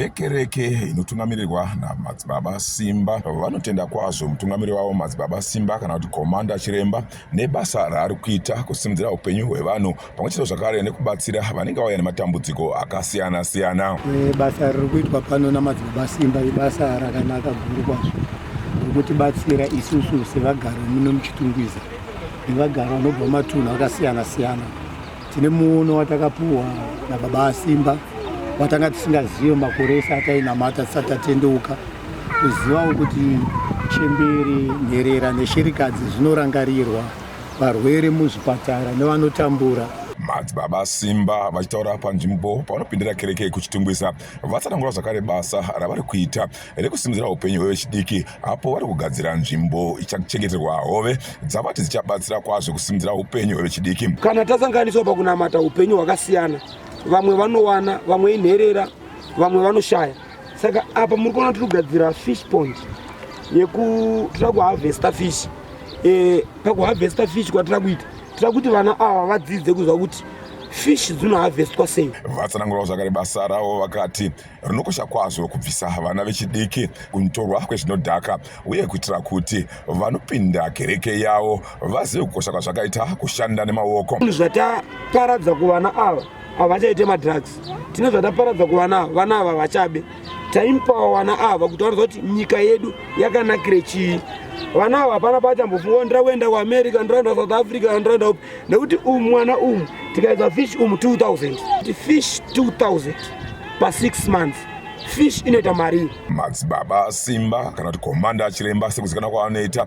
vekereke inotungamirirwa namadzibaba simba vanotenda kwazvo mutungamiri wavo madzibaba simba kana kuti komanda chiremba nebasa raari kuita kusimudzira upenyu hwevanhu pamwe chete zvakare nekubatsira vanenge vauya nematambudziko akasiyana siyana eh, basa riri kuitwa pano namadzibaba simba ibasa rakanaka guru kwazvo rikutibatsira isusu sevagari muno muchitungwiza nevagari vanobva matunhu akasiyana siyana tine muono watakapuwa nababa asimba watanga tisingazive makore ese atainamata tisati tatendeuka kuzivawo kuti chemberi nherera neshirikadzi zvinorangarirwa varwere muzvipatara nevanotambura. Madzibaba Simba vachitaura panzvimbo pavanopindira kereke kuChitungwiza vatsanangura zvakare basa ravari kuita rekusimudzira upenyu hwevechidiki apo vari kugadzira nzvimbo ichachengeterwa hove dzavati dzichabatsira kwazvo kusimudzira upenyu hwevechidiki. Kana tasanganiswa pakunamata upenyu hwakasiyana, vamwe vanowana, vamwe inherera, vamwe vanoshaya. saka apa muri kuona tiri kugadzira fish pond yekutira kuharvesta fish e, pakuharvesta fish kwatira kuita tira kuti vana ava vadzidze kuziva kuti fish dzinoharvestwa sei vatsanangurawo zvakare basa ravo vakati rinokosha kwazvo kubvisa vana vechidiki kunotorwa kwezvinodhaka uye kuitira kuti vanopinda kereke yavo vazive kukosha kwazvakaita kushanda nemaoko zvinhu zvataparadza kuvana ava havachaite madrugs tine zvataparadza kuvana ava vana ava vachabe taimpawa vana ava kuti vanoziva kuti nyika yedu yakanakire chii vana ava hapana paachambofunga ndira kuenda kuamerica ndiraenda south africa ndiraenda upi nekuti umu mwana umu tikaedza fish umu 2000 kuti fish 2000 pasix months fish inoita marii madzibaba simba kana kuti komanda achiremba sekuzikana kwaanoita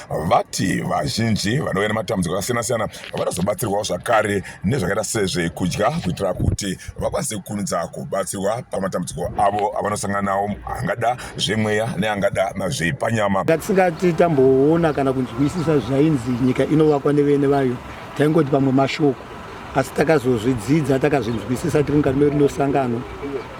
vati vazhinji vanouya nematambudziko akasiyana-siyana vanozobatsirwawo zvakare nezvakaita sezvekudya kuitira kuti vakwanise kukurumidza kubatsirwa pamatambudziko avo avanosangana nawo angada zvemweya neangada zvepanyama ngatisingati tamboona kana kunzwisisa zvainzi nyika inovakwa nevene vayo taingoti pamwe mashoko asi takazozvidzidza takazvinzwisisa tiri mukati medu nosangano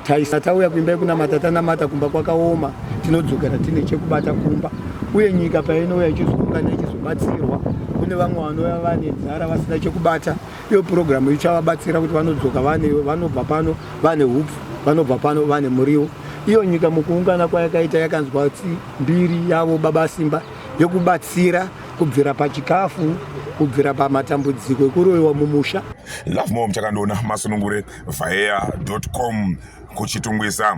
Taisa tauya kuimba yekunamata tanamata kumba kwakaoma tinodzokera tine chekubata kumba uye nyika painouya ichizoungana ichizobatsirwa kune vamwe vanouya vane nzara vasina chekubata iyo purogiramu ichavabatsira kuti vanodzoka vanobva pano vane hupfu vanobva pano vane muriwo iyo nyika mukuungana kwayakaita yakanzwa mbiri yavo baba simba yekubatsira kubvira pachikafu kubvira pamatambudziko ekuroyiwa mumusha lovemom chakandiona masunungure vaea.com kuchitungwiza.